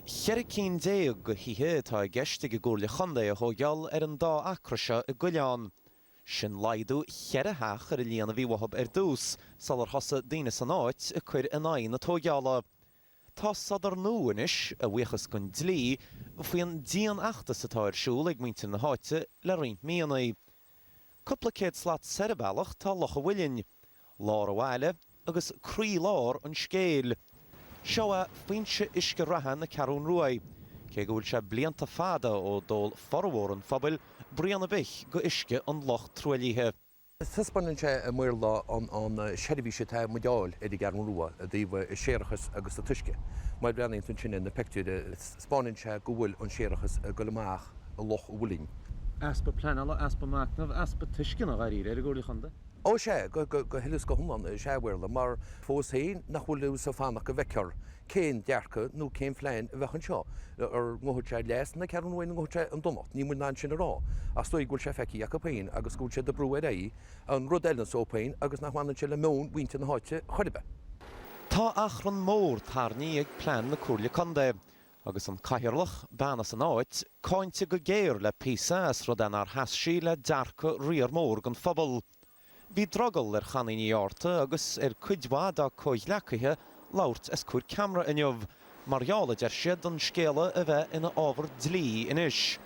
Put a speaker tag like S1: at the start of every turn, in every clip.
S1: Ceithre cinn déag de thithe atá i gceist ag an gComhairle Contae a thóigheáil ar an dá acra seo i gCoileán. Sin laghdú cheithre theach ar a líon a bhí uathab ar dtús sular thosaigh daoine san áit ag cur in aghaidh na tóigheála. Tá sodar nó anois, a bhuíochas den dlí, faoin dianfheachtas atá ar siúl ag muintir na háite le roinnt míonna. Cúpla céad slat soir an bealach tá Loch an Mhuilinn, lár an bhaile agus croílár an scéil. Seo é foinse uisce reatha na Ceathrún Ruaidh, cé go bhfuil sé blianta fada ó d'ól formhór an phobail braon ar bith go uisce an loch truaillithe. Taispeánann sé i mBéarla an seirbhís atá muid a fháil ar an gCeathrún Rua i dtaobh séarachais agus t-uisce, mar breathnaíonn tú ansin ar na pictiúir. 'Spáineann sé go bhfuil an séarachas ag goil amach i Loch an Mhuilinn. Easpa pleanála, easpa machnaimh, easpa tuisceana, dháiríre, ar an gComhairle Chontae. Ó sea, go huile is go hiomlán is ea a Mhaolra, mar fós féin nach bhfuil fhios a'd fanacht go bhfeicthear cén dearcadh nó cén phlean a bheas anseo, an ngabhfaidh sé leas na Ceathrún Ruaidh nó an ngabhfaidh sé chun donacht, níl muid in ann sin a rá, ach 's dóigh go bhfuil sé feicthe acu féin agus go bhfuil siad ag brú ar aghaidh an rud ar a son féin agus nach mbaineann sé le meon mhuintir na háite chor ar bith. Tá achrann mór tarraingthe ag plean na Comhairle Contae, agus an Cathaoirleach, bean as an áit, cáinte go géar le píosa as rud é nár sheas sí le dearcadh riar mór den phobal. Bhí drogall ar Chonnie Ní Fhátharta agus ar chuid mhaith dá comhghleacaithe labhairt os comhair ceamara inniu mar gheall, a deir siad, ar an scéal a bheith ina ábhar dlí anois.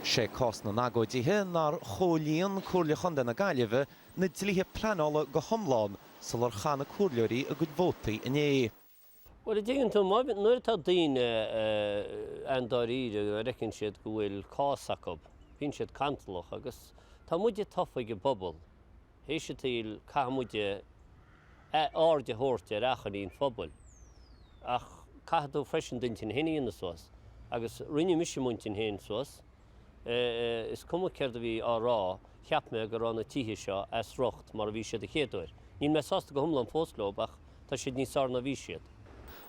S1: Sé cás na n-agóidithe nár chomhlíon Comhairle Chontae na Gaillimhe na dlíthe pleanála go hiomlán, sular chaith na comhairleoirí a gcuid vótaí inné. Bhuel, an dtuigeann tú, nuair atá daoine ann dáiríre a bhfeiceann siad go bhfuil cás acu, bíonn siad cantalach agus tá muide tofa ag an bpobal, théis an tsaoil caithfidh muid aird a thabhairt ar achainí an phobail. Ach caithfidh tú freisin d'intinn fhéin a dhéanamh suas agus rinne mise m'intinn fhéin suas. Is cuma céard a bhí á rá, cheap mé go raibh na tithe seo as riocht mar a bhí siad an chéad uair. Níl mé sásta go hiomlán fós leo ach tá siad níos fearr ná a bhí siad.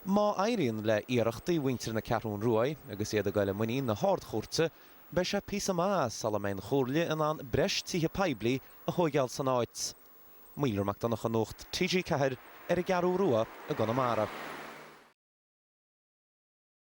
S1: Má éiríonn le iarrachtaí mhuintir na Ceathrún Ruaidh agus iad ag dul i muinín na hArd-Chúirte, beidh sé píosa maith ama sula mbeidh an Chomhairle in ann breis tithe poiblí a thóigeáil san áit. Maolra Mac Donncha Nuacht TG4 ar an gCeathrúin Rua i gConamara.